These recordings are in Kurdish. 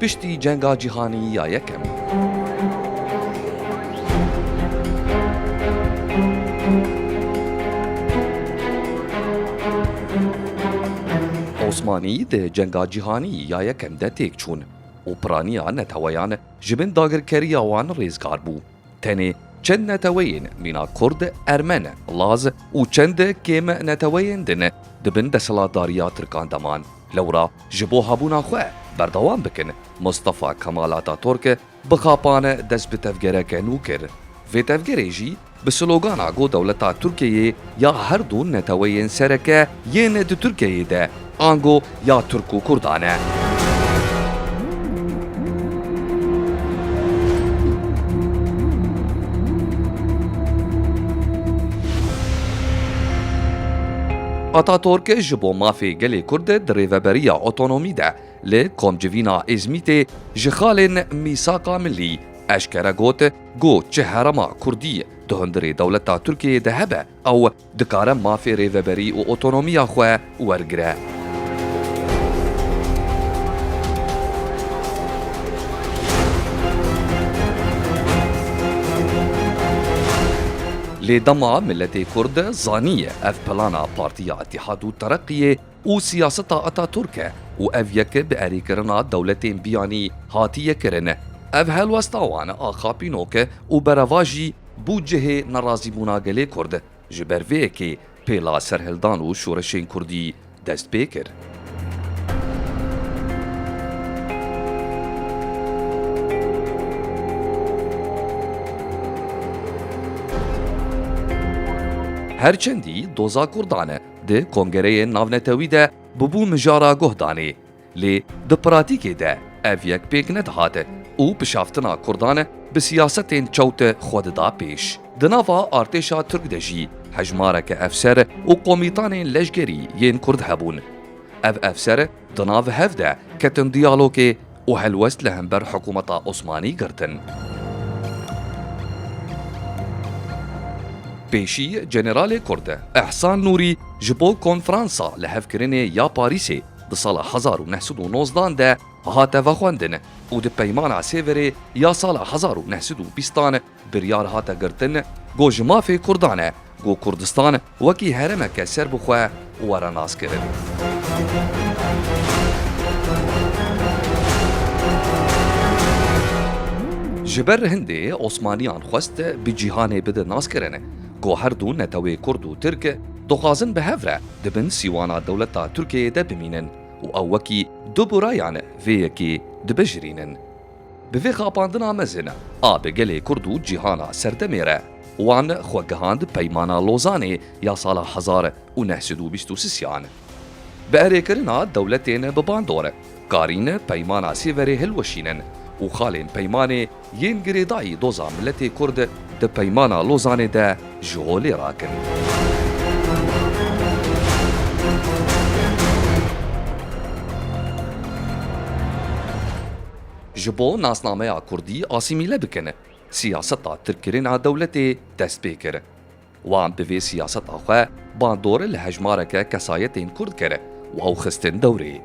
Piştî Cenga Cîhanî ya Yekem. Osmanî di Cenga Cîhanî ya Yekem de têk çûn û piraniya neteweyan ji bin dagirkeriya wan rêzgar bû. Tenê çend neteweyên mîna kurd, ermen, laz û çend kêm neteweyên din di bin desthilatdariya tirkan de man. Lewra ji bo hebûna xwe berdewam bikin, Mustafa Kemal Ataturk bi xapan dest bi tevgereke nû kir. Vê tevgerê jî bi slogana Go dewleta Tirkiyeyê ya her du neteweyên sereke yên di Tirkiyeyê de, Ango ya Tirk û Kurdan e. Ataturk ji bo mafê gelê Kurd di rêveberiya otonomî de li Komcivîna Îzmîtê ji xalên Mîsaka Millî eşkere got, Ku çi herema Kurdî di hundirê dewleta Tirkiyeyê de hebe ew dikare mafê rêveberî û otonomiya xwe wergire. Lê dema miletê kurd zaniye ev plana Partiya Îtîhad û Tereqiyê û siyaseta Ataturk e û ev yek bi erêkirina dewletên biyanî hatiye kirin. Ev helwesta wan a xapînok e û bereva jî bû cihê nerazîbûna gelê Kurd. Ji ber vê yekê pêla serhildan û şoreşên Kurdî dest pê kir. Her çendî doza Kurdan e, Di kongereyên navnetewî de bûbû mijara guhdanê. Lê di pratîkê de ev yek pêk nedihate û pişaftina kurdan bi siyasetên çewt xwe dida pêş. Di nava artêşa tirk de jî hejmareke efser û komîtanên leşgerî yên kurd hebûn. Ev efser di nav hev de ketin diyalogê û helwest li hember hikûmeta Osmanî girtin. Pêşî Jeneralê Kurd Ehsan Nûrî ji bo konferansa lihevkirinê ya Parîsê di sala hezar û neh sed û nozdan de hate vexwendin û di peymana Sêverê ya sala hezar û neh sed û bîstan Biryar hate girtin ku ji mafê Kurdan e ku Kurdistan wekî heremeke serbixwe were naskirin. Ji ber hindê Osmaniyan xwest bi cîhanê bidin naskirin ku her du netewê Kurd û Tirk dixwazin bi hev re di bin sîwana dewleta Tirkiyeyê de bimînin û ew wekî du burayan vê yekê dibijirînin. Bi vê xapandina mezin a bi gelê Kurd û cîhana serdemê re, wan xwe gihand Peymana Lozanê ya sala hezar û neh sed û bîst û sisiyan. Bi erêkirina dewletên bi bandor, karîn Peymana Sêverê hilweşînin û xalên Peymanê yên girêdayî doza miletê Kurd di Peymana Lozanê de, ji holê rakirin. Ji bo nasnameya kurdî asîmîle bikin, siyaseta tirkkirina dewletê dest pê kir. Wan bi vê siyaseta xwe bandor li hejmareke kesayetên kurd kir û ew xistin dewrê.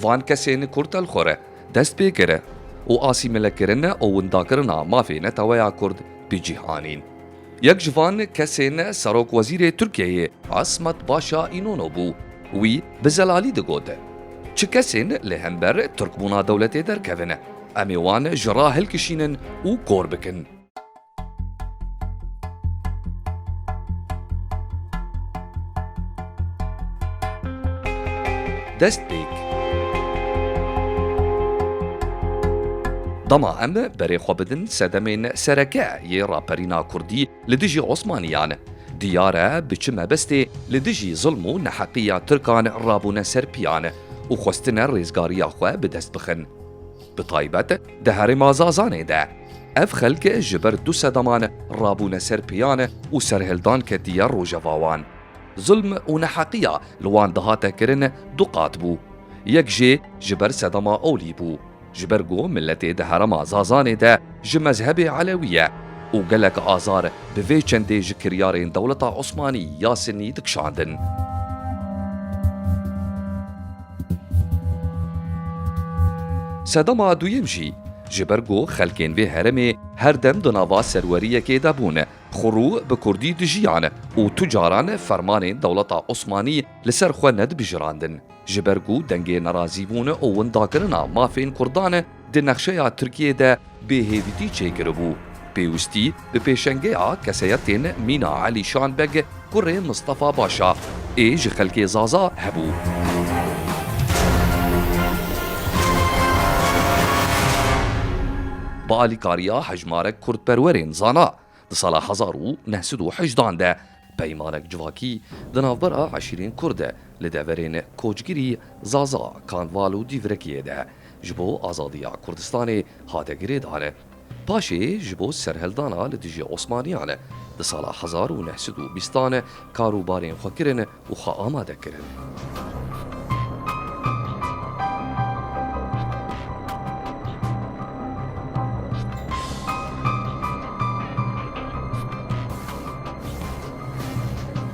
Van kesên kurtelxwir dest pê kir û asîmîlekirin û windakirina mafê neteweya kurd bi cih anîn. Yek ji van kesên serokwezîrê Tirkiyeyê Asmat Paşa Înono bû. Wî bi zelalî digot, Çi kesên li hember Tirkbûna dewletê derkevin, em ê wan ji ra hilkişînin û kor bikin. Dest pêk. Dema em berê xwe bidin sedemên sereke yê raperîna kurdî li dijî osmaniyan, diyar e bi çi mebestê li dijî zilm û neheqiya tirkan rabûne ser piyan û xwestine rêzgariya xwe bi dest bixin. Bi taybet di herêma Zazanê de. Ev xelk ji ber du sedaman rabûne ser piyan û serhildan ketiye rojevawan. Zulm û neheqiya li wan dihate kirin du qat bû. Yek jê ji ber sedema olî bû. Ji ber ku miletê di herema Zazanê de ji mezhebê elewî ye û gelek azar bi vê çendê ji kiryarên dewleta Osmanî ya Sinnî dikişandin. Sedema duyem jî ji ber ku xelkên vê heremê her dem di nava serweriyekê de bûn, Xurû bi kurdî dijiyan û tu caran fermanên dewleta Osmanî li ser xwe nedibijirandin. Ji ber ku dengê nerazîbûn û windakirina mafên kurdan di nexşeya Tirkiyê de bêhêvîtî çêkiribû, pêwistî bi pêşengeya keseyetên mîna Elîşan Beg Kurê Mistefa Başa ê ji xelkê Zaza hebû. Bi alîkariya hejmarek kurdperwerên zana di sala hezar û neh sed û hejdan de peymanek civakî di navbera eşîrên kurd de li deverên koçgirî Zaza, Kanval û Dîvrekiyê de ji bo azadiya Kurdistanê hate girêdane. Paşê ji bo serhildana li dijî Osmaniyan di sala hezar û neh sed û bîstan kar û barên xwe kirin û xwe amade kirin.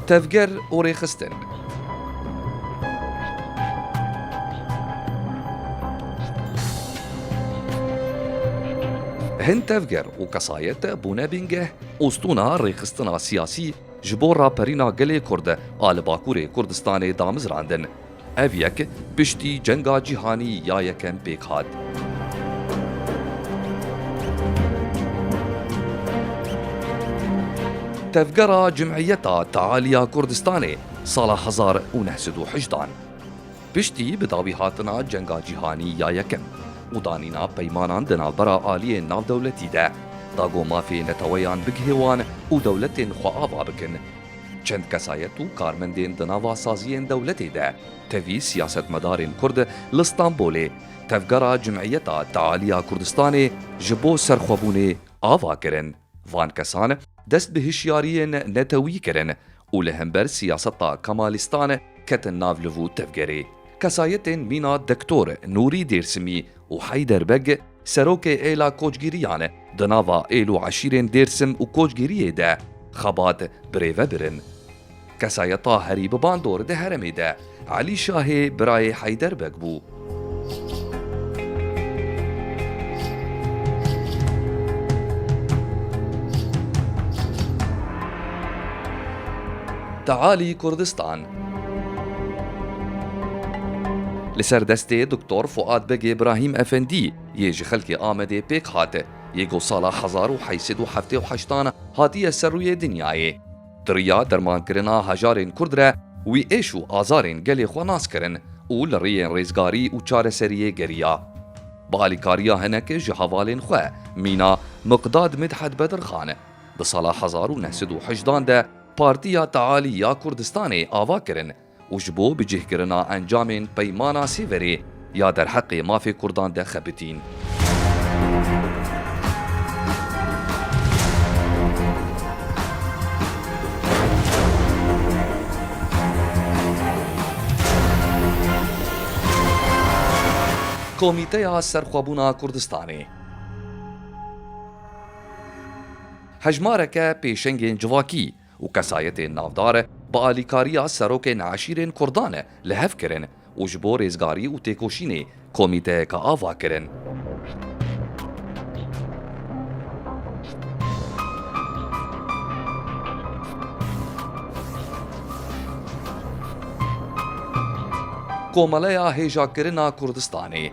Tevger û rêxistin. Hin tevger û kesayet bûne bingeh û stûna rêxistina siyasî ji bo raperîna gelê Kurd a li Bakurê Kurdistanê damizrandin. Ev yek Piştî Cenga Cîhanî ya Yekem pêk hat. Tevgera Cimîyeta Tealî ya Kurdistanê sala hezar û neh sed û heşt dan. Piştî bi dawî hatina Cenga Cîhanî ya Yekem û danîna peymanan di navbera aliyên navdewletî de da ku mafê neteweyan bigihê wan û dewletên xwe ava bikin. Çend kesayet û karmendên di nava saziyên dewletê de Tevî siyasetmedarên Kurd li Stenbolê tevgera Cimîyeta Tealiya Kurdistanê ji bo serxwebûnê ava kirin. Van kesan dest bi hişyariyên netewî kirin û li hember siyaseta Kemalîstan ketin nav li vû tevgerê. Kesayetên mîna Doktor Nûrî Dêrsimî û Heyder Beg, Serokê Êla Koçgîriyan e. Di nava êl û eşîrên Dêrsim û Koçgîriyê de xebat birêvebir in. Kesayeta herî bi bandor di heremê de Elî Şahê birayê Heyder Beg bû. Tealî Kurdistan Li ser destê Doktor Fuad Begê Brahîm Efendî yê ji xelkê Amedê pêk hate yê ku sala hezar û heyt sed û heftê û heştan hatiye ser rûyê dinyayê. Di riya dermankirina hejarên Kurd re wî êş û azarên gelê xwe nas kirin û li riyên rêzgarî û çareseriyê geriya. Bi alîkariya hinek ji hevalên xwe mîna Miqdad Midhed Bedirxan di sala hezar û neh sed û hejdan de Partiya Tealî ya Kurdistanê ava kirin û ji bo bicihkirina encamên Peymana Sêverê ya derheqê mafê Kurdan de xebitîn. Komîteya Serxwebûna Kurdistanê. Hejmareke pêşengên civakî û kesayetên navdar bi alîkariya serokên eşîrên kurdan li hev kirin û ji bo rêzgarî û têkoşînê komîteyeke ava kirin. Komeleya Hêjakirina Kurdistanê.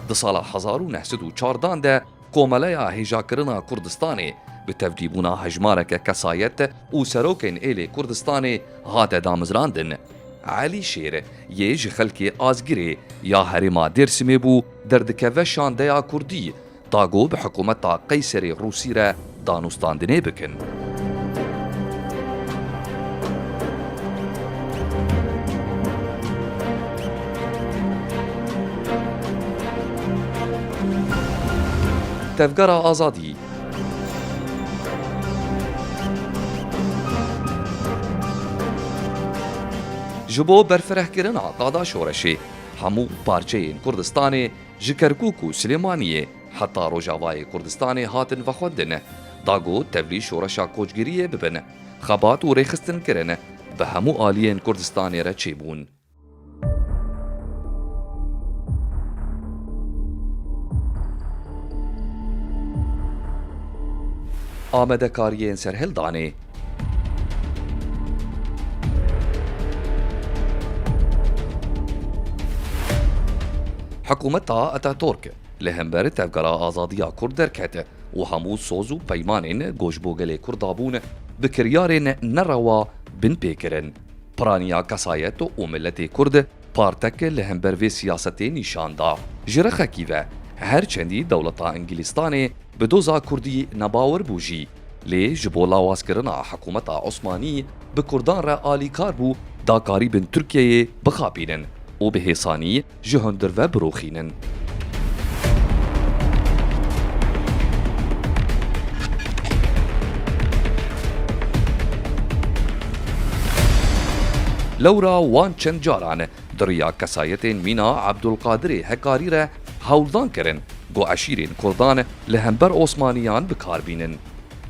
Di sala hezar û neh sed û çardan de Komeleya Hêjakirina Kurdistanê bi tevdîbûna hejmareke kesayet û serokên êlê Kurdistanê hate damizrandin. Elî Şêr yê ji xelkê Azgirê ya herêma Dêrsimê bû derdikeve şandeya Kurdî Da ku bi hikûmeta Qeyserê Rûsî re danûstandinê bikin. Tevgera Azadî. Ji bo berfirehkirina qada şoreşê, hemû parçeyên Kurdistanê Ji Kerkûk û Silêmaniyê heta Rojavayê Kurdistanê hatin vexwendin, da got tevlî şoreşa koçgiriyê bibin, xebat û rêxistin kirin, bi hemû aliyên Kurdistanê re çêbûn. Amadekariyên Serhildanê Hikûmeta Ataturk li hember tevgera azadiya Kurd derket û hemû soz û peymanên ku ji bo gelê Kurd dabûn bi kiryarên nerewa bin pêkirin. Piraniya kesayet û miletê Kurd Parteke li hember vê siyasetê nîşan da. Ji rexekî ve, her çendî dewleta Îngilîztanê bi doza Kurdî nebawer bû jî, lê ji bo lawazkirina hikûmeta Osmanî bi Kurdan re alîkar bû da karîbin Tirkiyeyê bixapînin û bi hêsanî ji hundir ve birûxînin. Lewra wan çend caran di riya kesayetên mîna Ebdulqadirê Hekarî re hewldan kirin ku eşîrên kurdan li hember Osmaniyan bi kar bînin.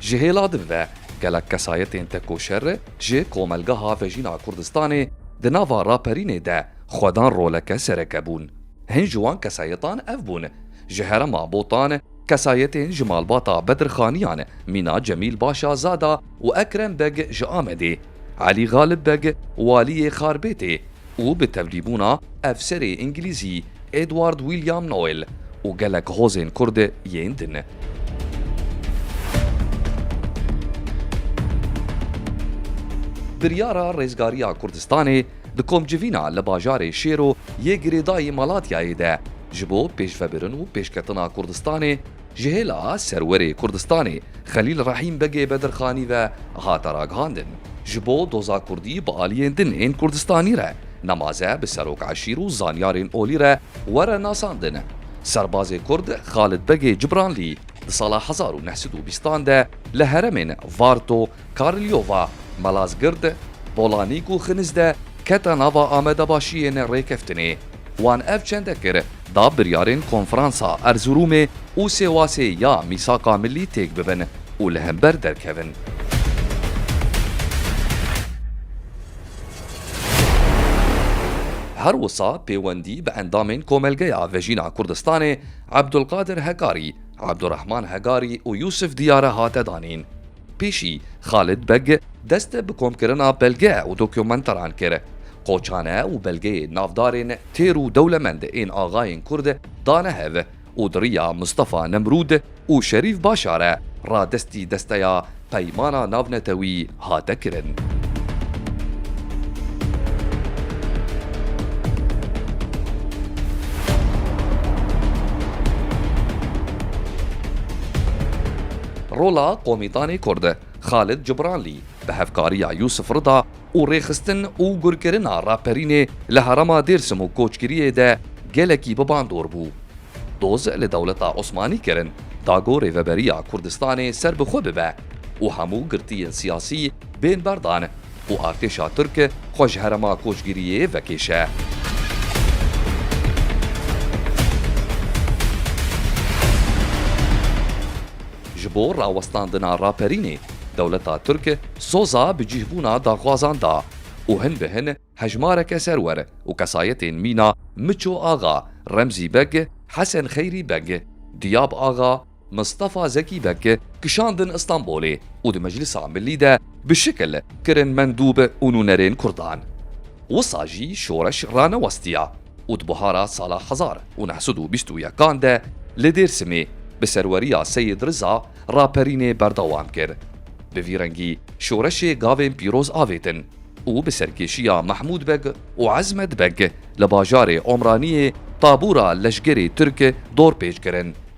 Ji hêla din ve gelek kesayetên tekoşer ji komelgeha Vejîna Kurdistanê di nava raperînê de xwe dan roleke sereke bûn. Hin ji wan kesayetan ev bûn, ji herema Botan kesayetên ji malbata Bedir Xaniyan, mîna Cemîl Başa Zada û Ekrem Beg ji Amedê, Elî Galib Beg waliyê Xarbêtê û bi tevlîbûna efserê îngilîzî Edward William Noel û gelek hozên kurd yên din. Biryara Rêzgariya Kurdistanê Di komcivîna li bajarê Şêro yê girêdayî Malatyayê de ji bo pêşvebirin û pêşketina Kurdistanê ji hêla Serwerê Kurdistanê Xelîl Rehîm Begê Bedirxanî ve hate ragihandin ji bo doza Kurdî bi aliyên din ên Kurdistanî re nemaze bi serok eşîr û zanyarên olî re were nasandin. Serbazê Kurd Xalid Begê Cibranlî di sala hezar û neh sed û bîstan de li heremên Varto, Karlyova, Malazgird, Polanîk û Xiniz de kete nava amedebaşiyên rêkeftinê. Wan ev çende kir da biryarên Konferansa Erzurumê û Sêwasê ya Mîsaka Millî têk bibin û li hember derkevin. Her wisa pêwendî bi endamên Komelgeya Vejîna Kurdistanê Ebdulkadir Hegarî, Ebdurehman Hegarî û Yûsif Diyare hate danîn. Pêşî Xalid Beg dest bi komkirina belge û dokumentaran kir. Qoçane û belgeyê navdarên têr û dewlemend ên axayên Kurd dane hev û di riya Mistefa Nemrûd û Şerîf Başar ra destî desteya Peymana Navnetewî hate kirin. Rola komîtanê Kurd Xalid Cibranlî bi hevkariya Yûsif Rida û rêxistin û gurkirina raperînê li herêma Dêrsim û Koçgiriyê de gelekî bi bandor bû. Doz li dewleta Osmanî kirin da ku Rêveberiya Kurdistanê serbixwe bibe û hemû girtiyên siyasî bên berdan. ku artêşa Tirk xwe ji herêma koçgiriyê vekêşe. Ji bo rawestandina raperînê, dewleta Tirk soza bi cîhbûna daxwazan da û hin bi hin hejmareke serwer û kesayetên mîna Miço Axa, Remzî Beg, Hesen Xeyrî Beg, Diyab Axa, Mistefa Zekî Beg kişandin Îstanbulê û di Meclisa Milî de bi şikil kirin mendûb û nûnerên Kurdan. Wisa jî şoreş ranewestiya û di buhara sala hezar û neh sed û bîst û yekan de li Dêrsimê bi serweriya Seyîd Riza raperînê berdewam kir. Bi vî rengî şoreşê gavên pîroz avêtin û bi serkêşiya Mehmûd Beg û Ezmed Beg li bajarê Omraniyê tabûra leşgerê Tirk dorpêç kirin.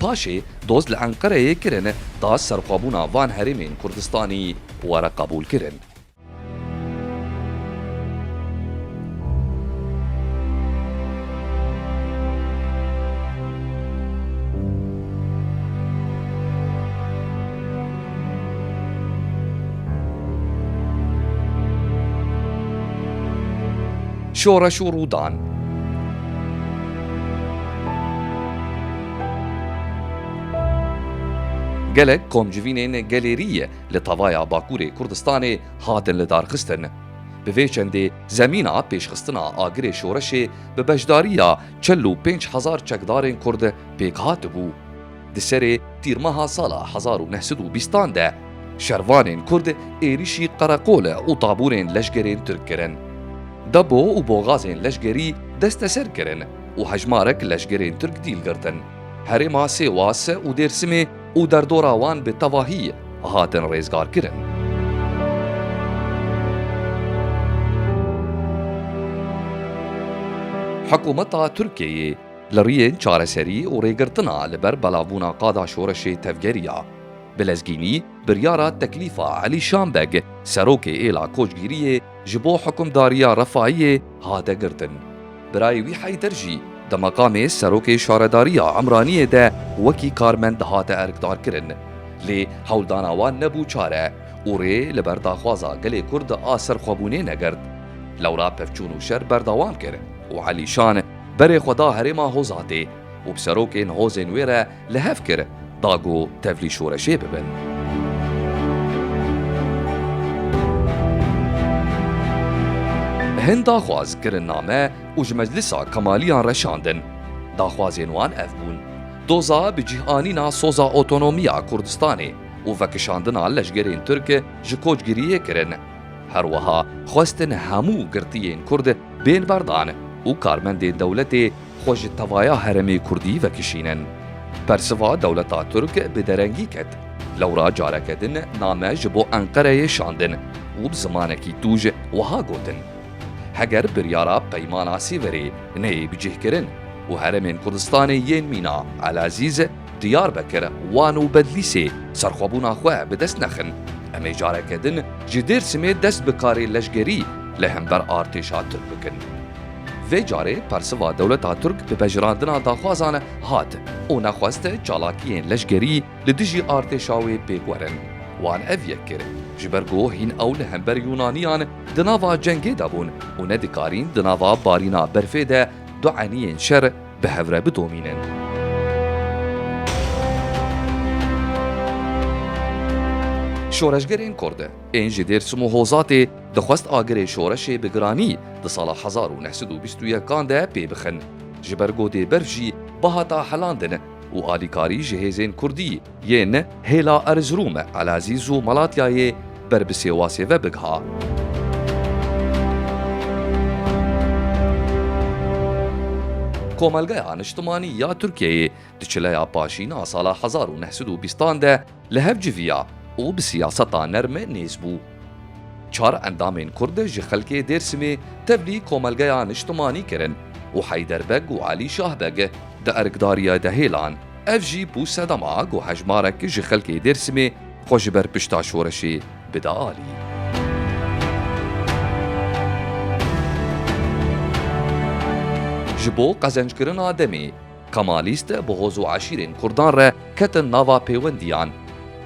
Paşê doz li Enqereyê kirin ta serxwebûna van herêmên Kurdistanî were qebûlkirin. Şoreş û Rûdan. Gelek komcivînên gelêriyê li tavaya Bakurê Kurdistanê hatin lidarxistin. Bi vê çendê zemîna pêşxistina agirê şoreşê bi beşdariya çil û pênc hezar çekdarên Kurd pêk hatibû. Di serê tîrmeha sala hezar û neh sed û bîstan de şervanên Kurd êrîşî qereqol û taburên leşgerên Tirk kirin. Depo û boxazên leşgerî desteser kirin. û hejmarek leşgerên Tirk dîl girtin. Herêma Sêwase û Dêrsimê û derdora wan bi tevahî hatin rêzgarkirin. Hikûmeta Tirkiyeyê li riyên çareserî û rêgirtina li ber belavbûna qada şoreşê tevgerî ya. Bi lezgînî biryara teklîfa Elî Şambeg, serokê êla koçgîriyê, Ji bo hukimdariya Refayiyê hate girtin. Birayê wî Heyder jî di meqamê Serokê Şaredariya Emraniyê de wekî karmend dihate erkdarkirin. Lê hewldana wan nebû çare û rê li ber daxwaza gelê Kurd a serxwebûnê negirt. Lewra pevçûn û şer berdewam kir û Elîşan berê xwe da herêma Hozatê û bi serokên hozên wê re Li hev kir da ku tevlî şoreşê bibin. Hin daxwaz kirin name û ji meclisa Kemaliyan re şandin. Daxwazên wan ev bûn, doza bi cih anîna soza otonomiya Kurdistanê û vekişandina leşgerên Tirk ji koçgiriyê kirin. Her wiha xwestin hemû girtiyên Kurd bên berdan û karmendên dewletê xwe ji tevaya herêmê kurdî vekişînin. Bersiva dewleta Tirk bi derengî ket. Lewra careke din name ji bo Enqereyê şandin û bi zimanekî tûj wiha gotin, Heger biryara Peymana Sîverê neyê bicihkirin û herêmên Kurdistanê yên mîna Elezîz, Diyarbekir, Wan û Bedlîsê serxwebûna xwe bi dest nexin. Em ê careke din ji Dêrsimê dest bi karê leşgerî li hember artêşa Tirk bikin. Vê carê persiva dewleta Tirk bi pejirandina daxwazan hat û nexwest çalakiyên leşgerî li dijî artêşa wê pêk werin. Wan ev yek kir ji ber ku hîn ew li hember Yûnaniyan di nava cengê de bûn û nedikarîn di nava barîna berfê de du eniyên şer bi hev re bidomînin. Şoreşgerên Kurd ên ji Dêrsim û Hozatê dixwest agirê şoreşê bi giranî di sala hezar û neh sed û bîst û yekan de pê bixin. Ji ber godê berf jî bihata helandin û alîkarî ji hêzên Kurdî Yên hêla Erzirûme, Elazîz û Malatyayê ber bi Sêwasê ve bigiha. Komelgeya Niştimanî ya Tirkiyeyê di çileya paşîn a sala hezar û neh sed û bîstan de li hev civiya û bi siyaseta nerme nêz bû. Çar endamên Kurd ji xelkê Dêrsimê tevlî Komelgeya Niştimanî kirin û Heyder Beg û Alî Şah Beg di erkdariya de hêlan. Ev jî bû sedema ku hejmarek ji xelkê Dêrsimê xwe ji ber pişta şoreşê bide alî. Ji bo qezenckirina demê. Kemalîst bi hoz û eşîrên Kurdan re ketin nava pêwendiyan.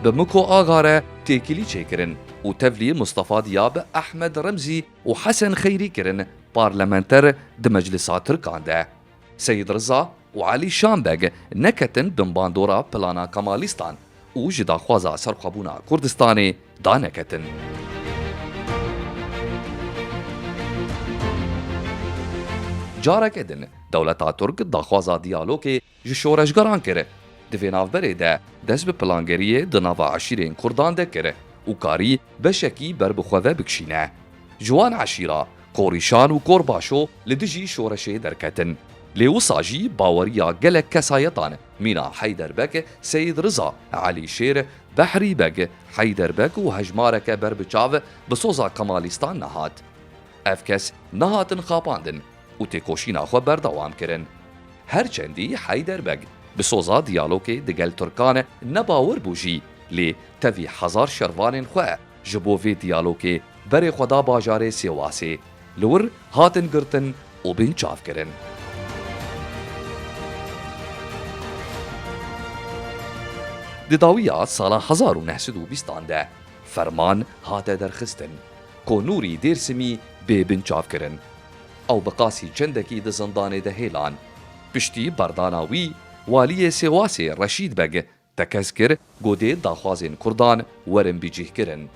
Bi Miko Aga re têkilî çêkirin û tevlî Mistefa Diyab, Ehmed Remzî û Hesen Xeyrî kirin parlamenter di meclisa Tirkan de. Seyîd Riza û Elî Şam Beg neketin binbandora plana Kemalîstan û ji daxwaza serxwebûna Kurdistanê daneketin. Careke din dewleta Tirk daxwaza diyalogê ji şoreşgeran kir. Di vê navberê de dest bi plangeriyê di nava eşîrên Kurdan de kir û karî beşekî ber bi xwe ve bikişîne. Ji wan eşîra Korîşan û Korbaşo li dijî şoreşê derketin. Lê wisa jî baweriya gelek kesayetan Mîna Heyder Beg, Seyîd Riza, Elî Şêr, Behrî Beg, Heyder Beg û hejmareke ber bi çav bi soza Kemalîstan nehat. Ev kes nehatin xapandin û têkoşîna xwe berdewam kirin. Her çendî Heyder Beg bi soza diyalogê digel tirkan ne bawer bû jî lê tevî hezar şervanên xwe, Ji bo vê diyalogê berê xwe da bajarê Sêwasê. Li wir hatin girtin û bên çavkirin. Di dawiya sala hezar û neh sed û bîst an de ferman hate derxistin ku Nûrî Dêrsimî bê bin çavkirin. Ew bi qasî çendekî di zindanê de hêlan. Piştî berdana wî, waliyê Sêwasê Reşîd Beg Tekez kir ku dê daxwazên Kurdan werin bicîhkirin.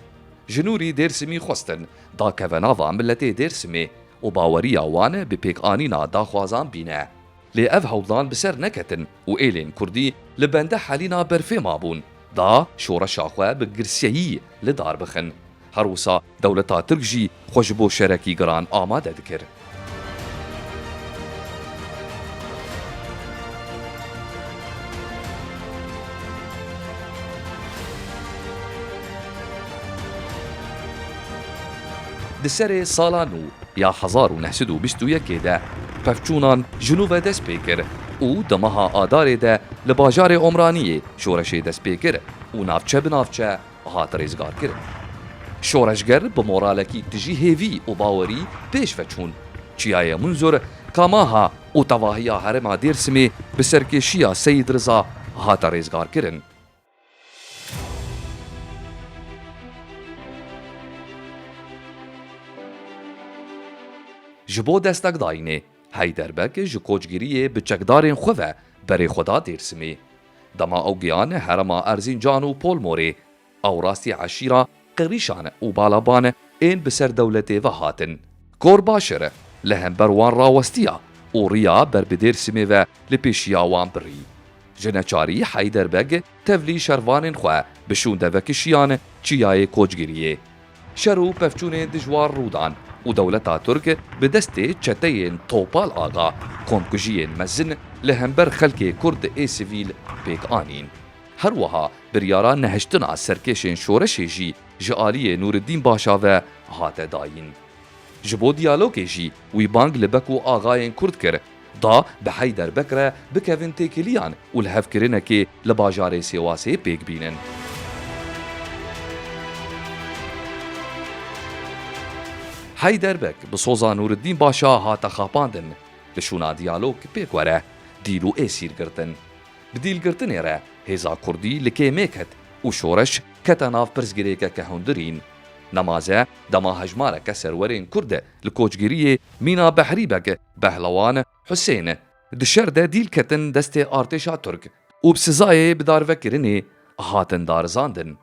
Ji Nûrî Dêrsimî xwestin dakeve nava miletê Dêrsimê û baweriya wan bi pêkanîna daxwazan bîne. Lê ev hewldan bi ser neketin û êlên Kurdî li bende helîna berfê mabûn da şoreşa xwe bi girseyî li dar bixin. Her wisa dewleta Tirk jî xwe ji bo şerekî giran amade dikir. Di serê sala nû ya hezar û neh sed û bîst û yekê de pevçûnan ji nû ve dest pê kir û di meha Adarê de li bajarê Omraniyê şoreşê dest pê kir û navçe bi navçe hat rêzgarkirin. Şoreşger bi moralekî tijî hêvî û bawerî pêş ve çûn. Çiyayê Munzur, Kamaha û tevahiya herêma Dêrsimê bi serkêşiya Seyîd Riza hate rêzgarkirin. Ji bo destekdayînê, Heyderbeg ji koçgiriyê bi çekdarên xwe ve berê xwe da Dêrsimê. Dema ew giyane herema Erzîncan û Polmorê, ew rastî eşîra, qirîşan û balaban ên bi ser dewletê ve hatin. Gorbaşir li hember wan rawestiya û riya ber bi Dêrsimê ve li pêşiya wan birî. Ji neçarî Heyder Beg tevlî şervanên xwe bi şûnde vekişiyan çiyayê Koçgiriyê Şer û pevçûnê dijwar rûdan û dewleta Tirk bi destê çeteyên Topal Axa komkujiyên mezin li hember xelkê Kurd ê sivîl pêk anîn. Her wiha biryara nehiştina serkêşên şoreşê jî ji aliyê Nûriddîn Başa ve hate dayîn. Ji bo diyalogê jî wî bang li Beko Axayên Kurd kir, da bi Heyder Bek re bikevin têkiliyan û li hev kirinekê li bajarê Sêwasê pêk bînin. Heyder Bek bi soza Nûriddîn Başa hate xapandin, li şûna diyalog pêk were, dîl û êsîr girtin. Bi dîlgirtinê re hêza kurdî li kêmê ket û şoreş kete nav pirsgirêkeke hundirîn. Nemaze dema hejmareke serwerên kurd li koçgiriyê Mîna Behrî Beg Behlewan Husên di şer de dîl ketin destê artêşa Tirk û bi sizayê bidarvekirinê hatin darizandin.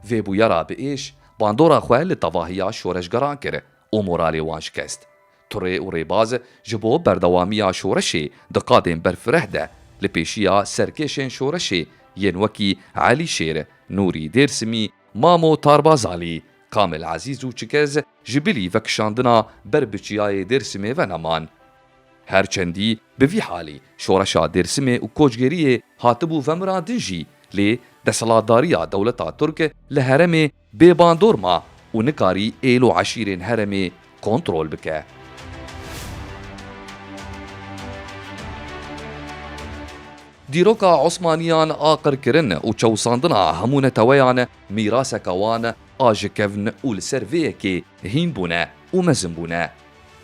Vê bûyera bi êş bandora xwe li tevahiya şoreşgeran kir û moralê wan şikest. Turê û rêbaz ji bo berdewamiya şoreşê di qadên berfireh de li pêşiya serkêşên şoreşê yên wekî Elî Şêr, Nûrî Dêrsimî, Mamo Tarbazalî, Kamil Ezîz û Çikez, ji bilî vekişandina ber bi çiyayê Dêrsimê ve neman. Her çendî bi vî halî şoreşa Dêrsimê û koçgeriyê hatibû vemirandin jî lê desthilatdariya dewleta Tirk li heremê bê bandor ma û nikarî êl û eşîrên heremê kontrol bike. Dîroka Osmaniyan a qirkirin û çewsandina hemû neteweyan mîraseka wan a ji kevn û li ser vê yekê hîn bûne û mezin bûne.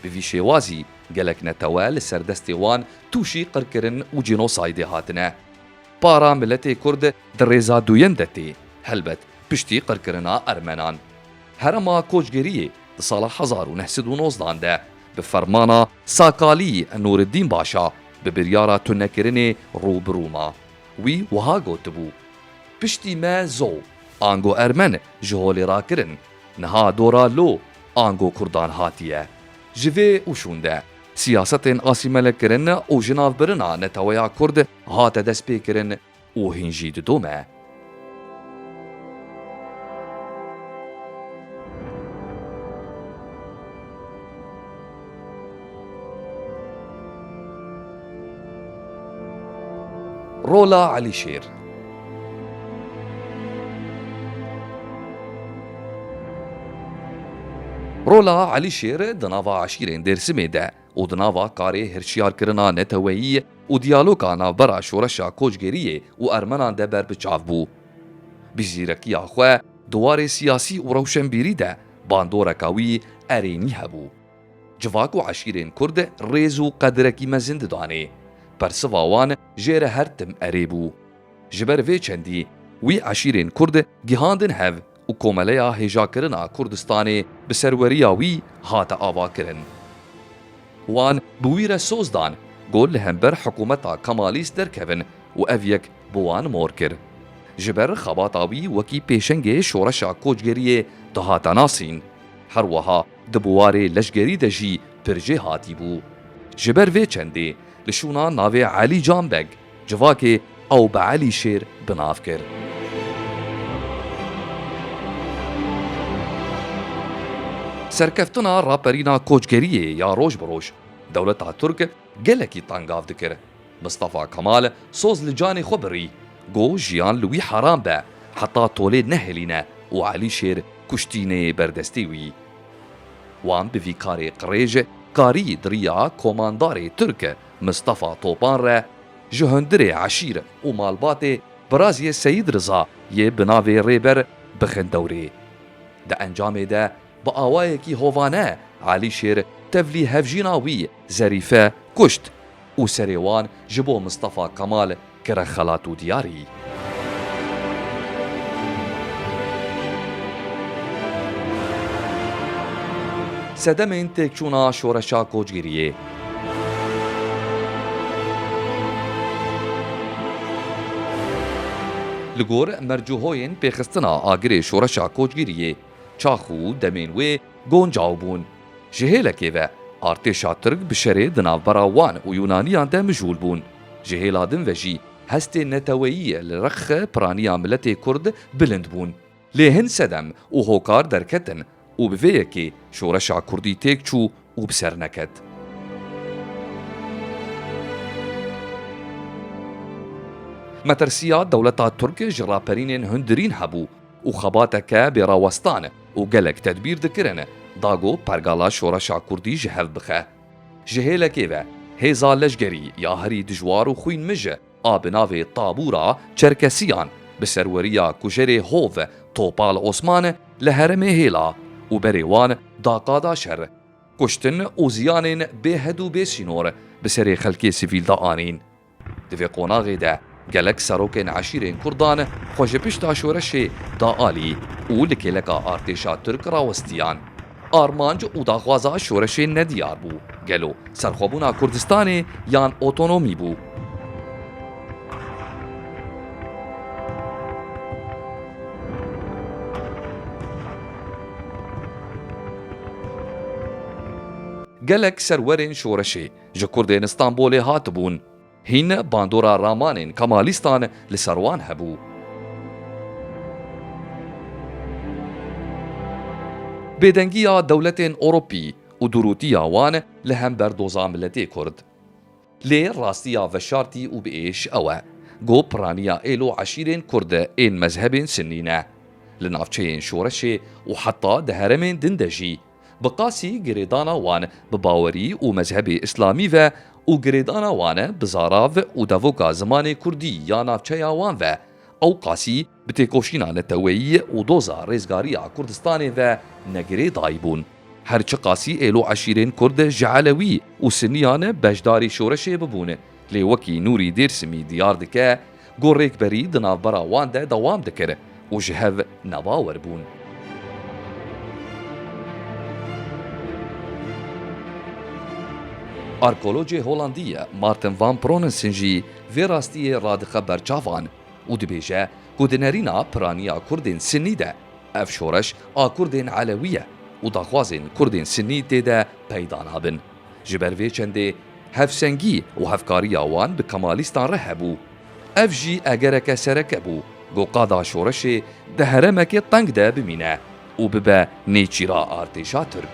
Bi vî şêwazî gelek netewe li ser destê wan tûşî qirkirin û cînosaydê hatine. Para miletê kurd di rêza duyem de tê, helbet piştî qirkirina ermenan. Herema koçgeriyê di sala hezar û neh sed û nozdan de bi fermana Sakalî Nûriddîn Başa bi biryara tunekirinê rû bi rû ma. Wî wiha gotibû. Piştî me zo, ango ermen ji holê ra kirin. Niha dora lo, ango kurdan hatiye. Ji vê û şûn de, siyasetên asîmelekirin û jinavbirina neteweya kurd hate destpêkirin û hîn jî didome. Rola Elîşêr. Rola Elîşêr di nava eşîrên Dêrsimê de û di nava karê hirşiyarkirina neteweyî û diyaloga navbera şoreşa koçgeriyê û ermenan de ber bi çav bû. Bi zîrekiya xwe di warê siyasî û rewşenbîrî de Bandoreka wî erênî hebû. Civak û eşîrên Kurd rêz û qedirekî mezin didanê. Persiva wan jê re her tim erê bû. Ji ber vê çendî wî eşîrên Kurd gihandin hev û Komeleya Hêjakirina Kurdistanê bi serweriya wî hate avakirin. Wan bi wî re soz dan ku li hember hikumeta Kemalîst derkevin û ev yek bi wan mor kir. Ji ber xebata wî wekî pêşengê şoreşa koçgeriyê dihate nasîn. Her weha di buwarê leşgerî de jî pir jê hatî bû. Ji ber vê çendê li şûna navê Elî Can Beg civakê ew bi Elî Şêr bi nav kir. Serkeftina raperîna koçgeriyê ya roj bi roj dewleta Tirk gelekî tangav dikir. Mistefa Kemal soz li canê xwe birî, got jiyan li wî heram be, heta tolê nehêlîne û Elîşêr kuştî neyê ber destê wî. Wan bi vî karê qirêj karî di riya komandarê Tirk Mistefa Topan re ji hundirê eşîr û malbatê Biraziyê Seyîd Riza yê bi navê Rêber bixin dewrê. Di encamê de Bi awayekî hovane Elîşêr tevlî hevjîna wî Zerîfe kuşt û serê wan ji bo Mistefa Kemal kire xelat û diyarî. Sedemên têkçûna şoreşa kocgiriyê. Li gor mercûhoyên pêxistina agirê şoreşa kocgiriyê. Çax û demên wê goncaw bûn. Ji hêlekê ve artêşa Tirk bi şerê di navbera wan û Yûnaniyan de mijûl bûn. Ji hêla din ve jî hestê neteweyiyê li rexe piraniya miletê Kurd bilind bûn. Lê hin sedem û hokar derketin û bi vê yekê şoreşa Kurdî têk çû û bi ser neket. Metirsiya dewleta Tirk ji raperînên hundirîn hebû. û xebateke bêrawestan e û gelek tedbîr dikirine dago pergala şoreşa kurdî ji hev bixe. Ji hêlekê ve hêza leşgerî ya herî dijwar û xwîn mij e a bi navê Tabûra Çerkesiyan bi serweriya kujerê hov Topal Osman li herêmê hêla û berê wan da qada şer, kuştin û ziyanên bêhed û bêsînor bi serê xelkê sivîl de anîn. Di vê qonaxê de gelek serokên eşîrên Kurdan xwe ji pişta şoreşê da alî û li kêleka artêşa Tirk rawestiyan. Armanc û daxwaza şoreşê nediyar bû, gelo serxwebûna Kurdistanê yan otonomî bû. Gelek serwerên şoreşê ji kurdên Stenbolê hatibûn. Hîn bandora ramanên Kemalîstan li ser wan hebû. Bêdengiya dewletên Ewropî û dûrûtiya wan li hember doza miletê kurd. Lê rastiya veşartî û bi êş ew e ku piraniya êl û eşîrên kurd ên mezhebên sinnî ne. Li navçeyên şoreşê û heta di heremên din de jî, Bi qasî girêdana wan bi bawerî û mezhebê îslamî ve û girêdana wan bi zarav û devoka zimanê kurdî ya navçeya wan ve ew qasî bi têkoşîna neteweyî û doza rêzgariya Kurdistanê ve ne girêdayî bûn. Her çi qasî êlo eşîrên kurd ji elewî û siniyan beşdarî şoreşê bibûn, Lê wekî Nûrî Dêrsimî diyar dike ku rêkberî di navbera wan de dewam dikir û ji hev nebawer bûn. Arkeologê Holandî ye Martin Van Pronensen jî vê rastiyê radixe berçavan û dibêje ku di nerîna piraniya Kurdên Sinnî de ev şoreş a Kurdên Elewî ye û daxwazên Kurdên Sinnî tê de peyda nabin. Ji ber vê çendê hevsengî û hevkariya wan bi Kemalîstan re hebû. Ev jî egereke sereke bû ku qada şoreşê di heremekê teng de bimîne û bibe nêçîra artêşa Tirk.